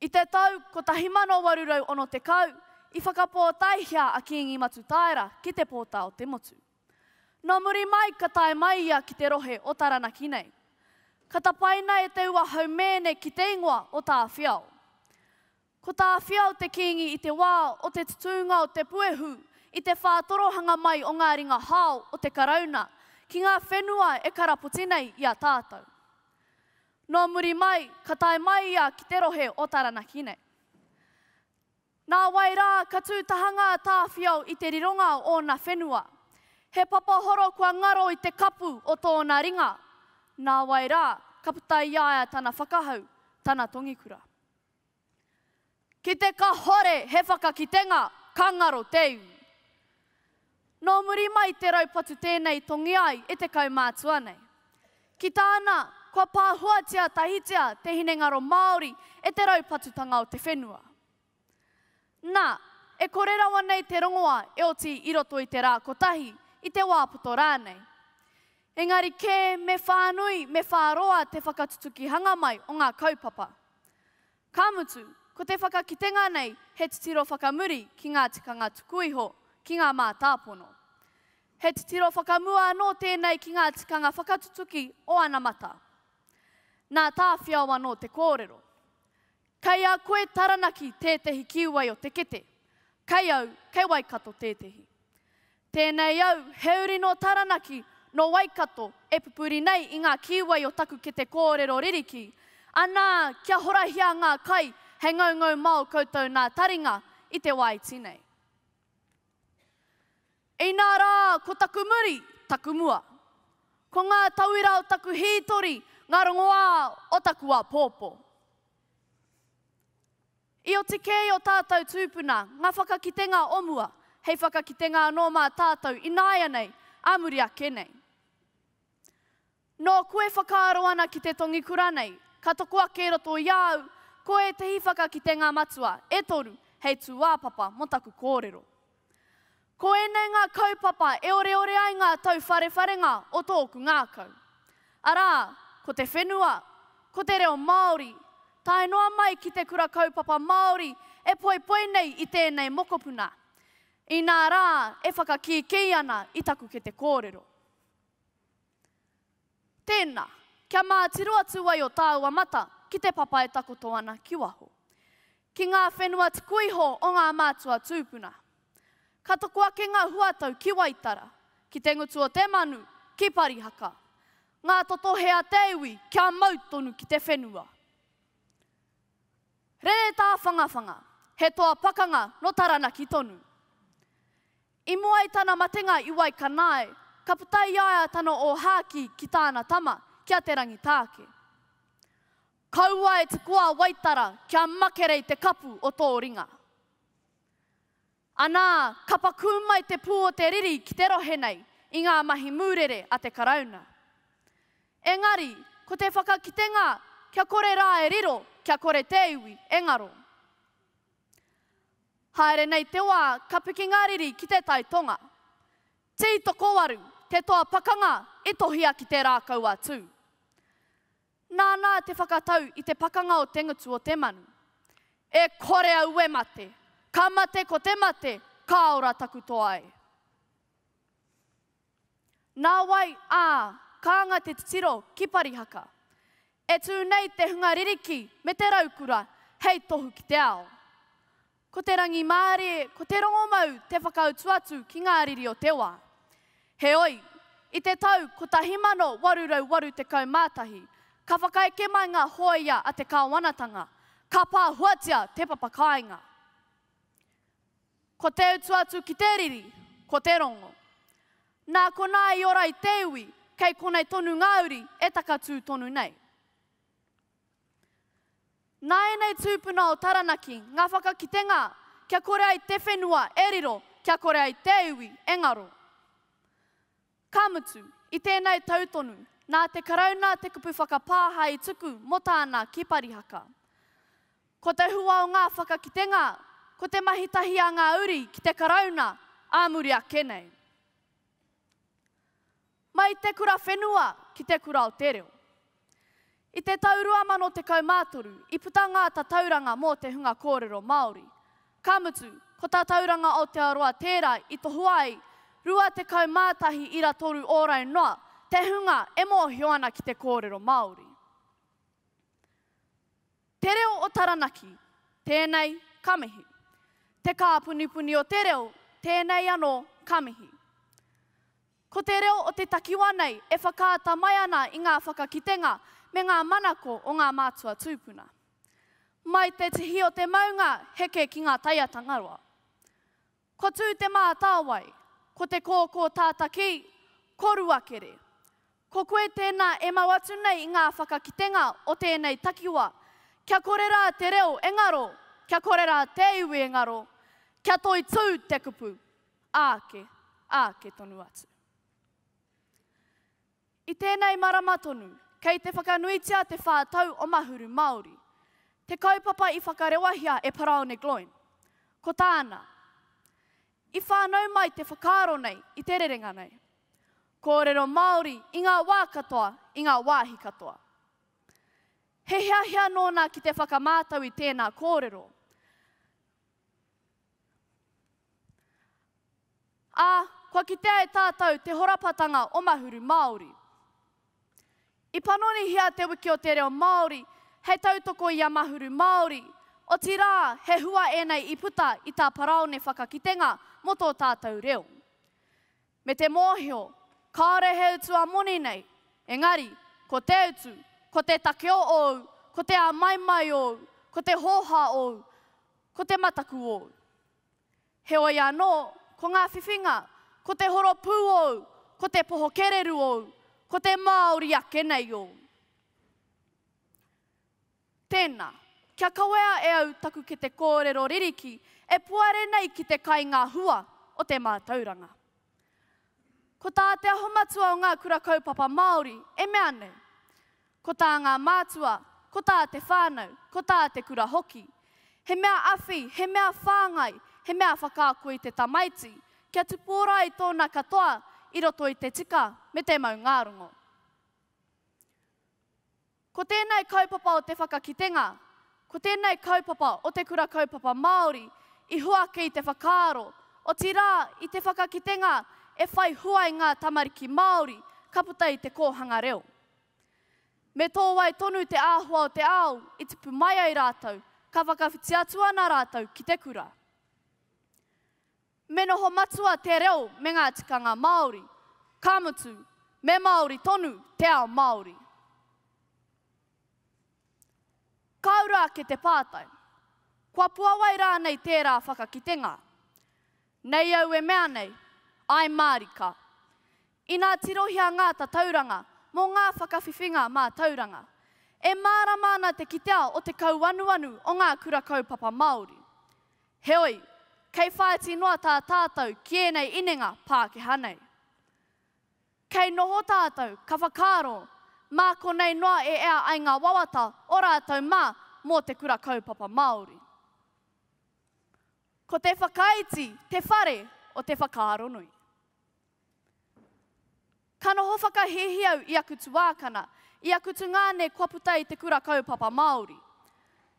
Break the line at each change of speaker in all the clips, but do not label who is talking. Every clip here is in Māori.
I te tau 1860, i whakapōtaehia a Kīngi Matutaera ki te pōtā o te motu. Nō muri mai ka tae mai ia ki te rohe o Taranaki nei. Ka tapaina e Te Ua Haumēne ki te ingoa o Tāwhiao. Ko Tāwhiao te kīngi i te wā o te tutūnga o te puehu i te whātorohanga mai o ngā ringa hao o te Karauna ki ngā whenua e karapoti nei i a tātou. Nō muri mai, ka tae mai ia ki te rohe o Taranaki nei. Nā wai rā, ka tū taha ngā tāwhiao i te rironga o ōna whenua. He papa horo kua ngaro i te kapu o tōna ringa. Nā wai rā, ka puta i a ia tana whakahau, tana tongikura. Ki te kahore he whakakitenga, ka ngaro te iwi. Nō muri mai te raupatu tēnei tongia ai e te kaumātua nei. Ki tāna, kua pāhuatia tahitia te hinengaro Māori e te raupatutanga o te whenua. Na, e kore rawa nei te rongoa e oti i roto i te ra kotahi, i te wa poto ranei. Engari ke me whanui, me wharoa te whakatutukihanga mai o nga kaupapa. Ka mutu, ko te whakakitenga nei he titiro whakamuri ki nga tikanga tuku iho, ki nga mātāpono. He titiro whakamua ano tenei ki nga tikanga whakatutuki o anamata. Na, tāwhiao ano te kōrero. Kei a koe Taranaki tētehi kīwai o te kete. Kei au, kei Waikato tētehi. Tēnei au, he uri nō Taranaki, nō Waikato, e pupuri nei i ngā kīwai o taku kete kōrero ririki. Anā, kia horahia ngā kai, he ngaungau mao koutou nā taringa i te wāiti nei. Inā rā, ko taku muri, taku mua. Ko ngā tauira o taku hītori ngā rongoā o taku āpōpō. I oti kē i ō tātou tūpuna ngā whakakitenga o mua, hei whakakitenga anō mā tātou ināianei, ā muri ake nei. Nō koe e whakaaro ana ki te tongi kura nei, ka toko ake roto i a au, ko ētehi whakakitenga matua, e toru, hei tūāpapa mō taku kōrero. Ko ēnei ngā kaupapa e oreore ai ngā tauwharewharenga o tōku ngākau. Arā, ko te whenua, ko te reo Māori, tae noa mai ki te kura kaupapa Māori e poipoi nei i tēnei mokopuna, inā rā e whakakīkī ana i taku kete kōrero. Tēnā, kia mātiro atu ai o tāua mata ki te papa e takoto ana ki waho, ki ngā whenua tuku iho o ngā mātua tūpuna. Ka toko ake ngā huatau ki Waitara, ki te ngutu o te manu, ki Parihaka. Ngā totohe a te iwi kia mau tonu ki te whenua. Rere Tāwhangawhanga, he toa pakanga nō Taranaki tonu. I mua i tana matenga i Waikanae, ka puta i a ia tana ōhākī ki tāna tama, ki a Te Rangitāke. Kaua e te koa Waitara kia makere i te kapu o tō ringa. Anā, ka pakū mai te pū o te riri ki te rohe nei i ngā mahi mūrere a te Karauna. Engari, ko te whakakitenga kia kore rā e riro, kia kore te iwi e ngaro. Haere nei te wā ka piki ngā riri ki te tai tonga. Tī tokowaru te toa pakanga i tohia ki te rākau a Tū. Nānā te whakatau i te pakanga o te ngutu o te manu. E kore au e mate, ka mate ko te mate, ka ora taku toa e. Nāwai ā, kānga te titiro ki Parihaka. E tū nei te hunga ririki me te raukura hei tohu ki te ao. Ko te rangimārie, ko te rongomau te whakautu atu ki ngā riri o te wā. Heoi, i te tau 1881, ka whakaeke mai ngā hōia a te kāwanatanga, ka pāhuatia te papakāinga. Ko te utu atu ki te riri, ko te rongo. Nā konā i ora i te iwi, kei konei tonu ngā uri e takatū tonu nei. Nā ēnei tūpuna o Taranaki ngā whakakitenga kia kore ai te whenua e riro, kia kore ai te iwi e ngaro. Ka mutu, i tēnei tau tonu, nā te Karauna te kupu whakapāha i tuku mō tāna ki Parihaka. Ko te hua o ngā whakakitenga, ko te mahi tahi a ngā uri ki te Karauna ā muri ake nei. Mai te kura whenua ki te kura o te reo. I te tau 2013, i puta ngā tatauranga mō te hunga kōrero Māori. Ka mutu, ko Tatauranga Aotearoa tērā i tohua ai 21,300 ōrau noa te hunga e mōhio ana ki te kōrero Māori. Te Reo o Taranaki, tēnei, ka mihi. Te Kāpunipuni o te Reo, tēnei anō, ka mihi. Ko te reo o te takiwā nei e whakaata mai ana i ngā whakakitenga me ngā manako o ngā mātua tūpuna. Mai te tihi o te maunga heke ki ngā taia Tangaroa. Ko Tū te mātāwai, ko te kōkō tātakī, ko Ruakere. Ko koe tēnā e mau atu nei i ngā whakakitenga o tēnei takiwā, kia kore rā te reo e ngaro, kia kore rā te iwi e ngaro, kia toitū te kupu. Ake, ake tonu atu. I tēnei marama tonu, kei te whakanuitia te whā tau o Mahuru Māori, te kaupapa i whakarewahia e Paraone Gloyne. Ko tāna, I whānau mai te whakaaro nei i te rerenga nei. Kōrero Māori i ngā wā katoa, i ngā wāhi katoa. He hiahia nōna ki te whakamātau i tēnā kōrero. Ā, kua kitea e tātou te horapatanga o Mahuru Māori. I panonihia Te Wiki o te Reo Māori hei tautoko i a Mahuru Māori, otirā he hua ēnei i puta i tā Parāone whakakitenga mō tō tātou reo. me te mōhio kāore he utu a moni nei, engari, ko te utu, ko te takeo ōu, ko te āmaimai ōu, ko te hōhā ōu, ko te mataku ōu. Heoi anō, ko ngā whiwhinga, ko te horopū ōu, ko te poho kererū ōu, ko te Māori ake nei ōu. Tēnā, kia kawea e au taku kete kōrero ririki e puare nei ki te kai ngā hua o te mātauranga. Ko tā Te Aho Matua o Ngā Kura Kaupapa Māori e mea nei, ko tā ngā mātua, ko tā te whānau, ko tā te kura hoki, he mea awhi, he mea whāngai, he mea whakaako i te tamaiti kia tupōra ai tōna katoa i roto i te tika me te maungārongo. Ko tēnei kaupapa o te whakakitenga, ko tēnei kaupapa o te Kura Kaupapa Māori i huaki i te whakaaro, otirā, i te whakakitenga e whai hua i ngā tamariki Māori ka puta i te kōhanga reo. Me tō wai tonu te āhua o te ao i tipu mai ai rātou, ka whakawhiti atu ana rātou ki te kura. Me noho matua te reo me ngā tikanga Māori, ka mutu, me Māori tonu te ao Māori. Ka ura ake te pātai, kua puawai rānei tērā whakakitenga? Nei au e mea nei, āe mārika. Inā tirohia ngā tatauranga mō ngā whakawhiwhinga mātauranga, e mārama ana te kitea o te kauanuanu o ngā kura kaupapa Māori. Heoi, kei whāiti noa tā tātou ki ēnei inenga Pākehā nei. Kei noho tātou, ka whakaaro, mā konei noa e ea ai ngā wawata o rātou mā mō te Kura Kaupapa Māori. Ko te whakaiti te whare o te whakaaronui. Ka noho whakahēhi au i aku tuākana, i aku tungāne kua puta i te Kura Kaupapa Māori.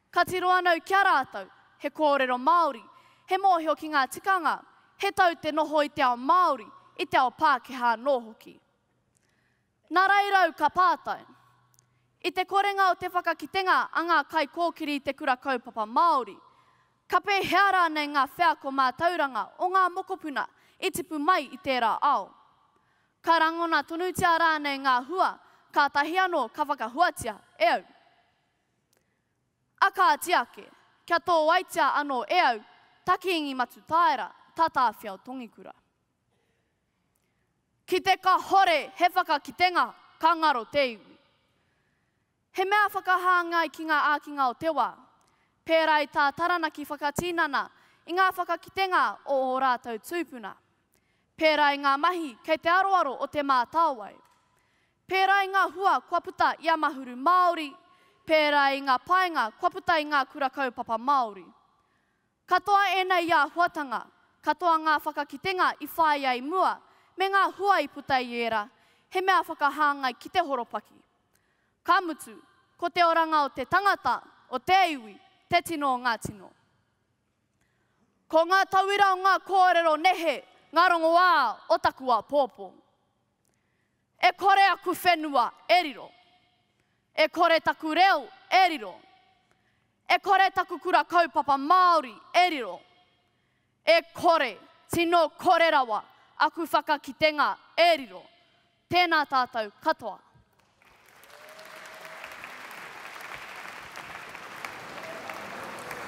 Ka tiro anau ki a rātou, he kōrero Māori, he mōhio ki ngā tikanga, he tau te noho i te ao Māori, i te ao Pākehā anō hoki. Nā Rairau ka pātai. I te korenga o te whakakitenga a ngā kaikōkiri i te Kura Kaupapa Māori, ka pēhea rānei ngā wheako mātauranga o ngā mokopuna i tipu mai i tērā ao? Ka rangona tonutia rānei ngā hua kātahi anō ka whakahuatia e au? A kāti ake, kia tōaitia anō e au, Takiingi Matutaera, Tatāwhiao Tongikura. Ki te kahore he whakakitenga, ka ngaro te iwi. He mea whakahāngai ki ngā ākinga o te wā, pērā i tā Taranaki whakatinana i ngā whakakitenga o ō rātou tūpuna, pērā i ngā mahi kei te aroaro o Te Mātāwai, pērā i ngā hua kua puta i a Mahuru Māori, pērā i ngā painga kua puta i ngā kura kaupapa Māori. Katoa ēnei āhuatanga, katoa ngā whakakitenga i whāia i mua, me ngā hua i puta i ērā, he mea whakahāngai ki te horopaki. Ka mutu, ko te oranga o te tangata, o te iwi, te tino o ngā tino. Ko ngā tauira o ngā kōrero nehe ngā rongoā o taku āpōpō. E kore aku whenua e riro. E kore taku reo e riro. E kore taku kura kaupapa Māori e riro. E kore, tino kore rawa aku whakakitenga e riro. Tēnā tātou katoa.